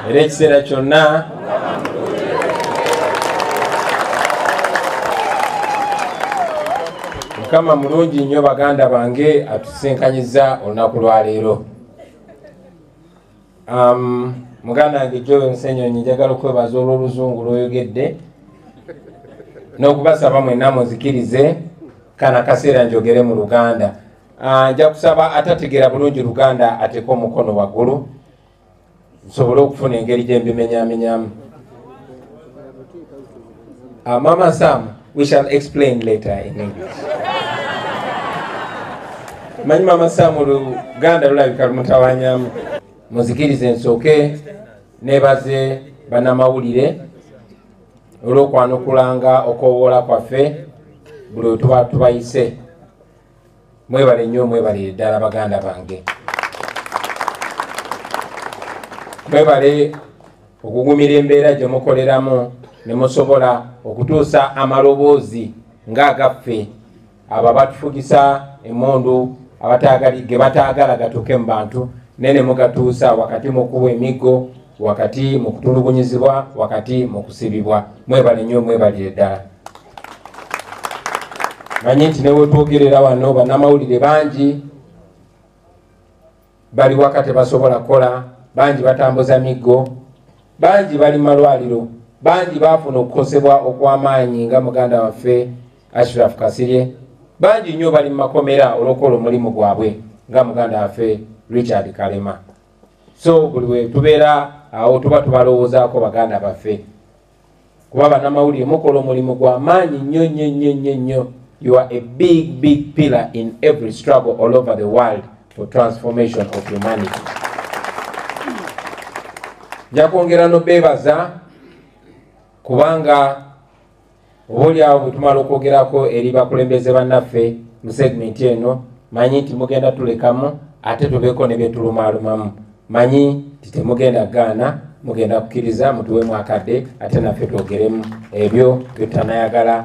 era ekiseera kyonna mukama mulungi nnyo baganda bange atusinkanyizza olunaku lwaleero Um, muganda wange joel nsenyonyi njagala okwebaza olw'oluzungu lwoyogedde n'okubasaba mwenna muzikirize kana kaseera njogere mu luganda ah, nja kusaba atategeera bulungi luganda ateeka omukono waggulu nsobole okufuna engeri gye mbimenyamenyamu Uh, Mama Sam, we shall explain later in English. Manyi Mama Sam oluganda lulabika lumutawanyamu. Muzikirize nsooke nebaze banamawulire olw'okwanukulanga okwowoola kwaffe buli wetuba tubayise. mwebale nnyo mwebalire ddala baganda bange mwebale okugumira embeera gye mukoleramu ne musobola okutuusa amaloboozi ng'agaffe abo abatufugisa emundu ge bataagala gatuuke mu bantu naye ne mugatuusa wakati mu kuwa emiggo wakati mu kutulugunyizibwa wakati mu kusibibwa mwebale nnyo mwebalire ddala manyi nti newetwogerera wano banamawulire bangi bali waka tebasobola kukola bangi batambuza miggo bangi bali malwaliro bangi bafuna okukosebwa okwamaanyi nga muganda waffe ashraf kasirye bangi nnyo bali mumakomera olwokukola omulimu gwabwe nga muganda waffe richard kalema so buli wetubeera awo tuba tubalowoozaako baganda baffe kuba banamawulire mukola omulimu gwa maanyi nnyo nnyo nnyo nnyo nnyo you are a big big pillar in every struggle all over the world for transformation of humanity njakwongera nobeebaza kubanga obaolyawo bwe tumala okwogerako eri bakulembeze bannaffe mu segmenti eno manyi nti mugenda tulekamu ate tubeeko ne byetulumaalumamu manyi nti temugenda gaana mugenda kukkiriza mutuwemu akadde ate naffe twogeremu ebyo byetutanayagala